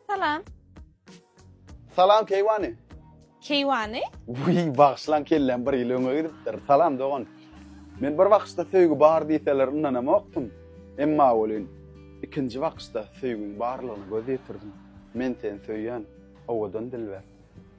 Salam. Salam Keýwany. Keýwany? Buý, bagşylan kellem bir ýyl öňe gidipdir. Salam dogan. Men bir wagtda söýgi bar diýseler ynanamokdym. Emma welin ikinji wagtda söýgiň barlygyna göz ýetirdim. Men seni söýýän. Owadan dilber.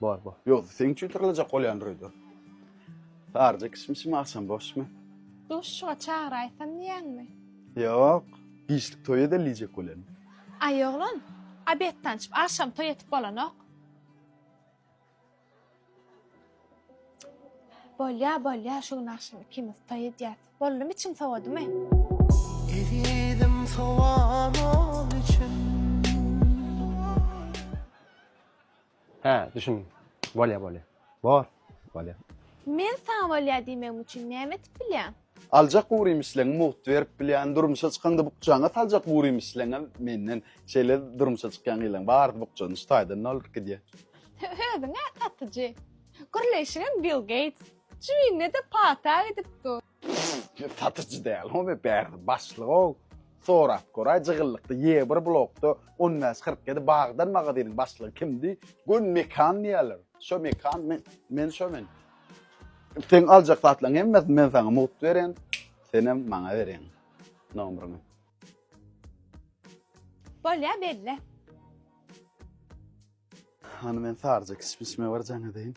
Bar bar. Ýogsa seň üçin tyrlajak bolýandyr öýde. Saryja kişmişim agşam boşmy? Duşuşyga çagyraýsam diýýäňmi? Ýok. Giçlik toý edeli diýjek bolýan. Aý oglan, obed tançyp, agşam toý etip bolanok. Bolýa, bolýa, şu gün agşam ikimiz toý edýäs. Boldumy içiň sowadymy? Ezizim sowan ol içim. Hä, düşündim. Bolýa, bolýa. Bor, bolýa. Men saňa bolýa diýmegim üçin näme etip bilýäň? Aljak gury misleňi mugt berip bilýän, durmuşa çykanda bukjaňa saljak gury misleňem menden. Şeýle durmuşa çykýan gyzlaň barsy bukjany şu taýdan dolduryp gidýä. Özüň-ä satyjy. Gürleýşiňem Bill Geýts. Jübüňde-de pata gidip dur. Satyjy däl ho me bärde başlyg-ow. Sorap göräý, Jygyllykda ýe bir blokda on bäş, kyrk ýedi bagdan magazynyň başlygy kimdi? Gön Mekan diýerler. Şo Mekan, men, men şo men. Seň aljak zatlaň hemmesini men saňa mugt beren, senem maňa bereň nomryňy. Bolýa belle. Hany men sarja kişmişime barjaň edeýin.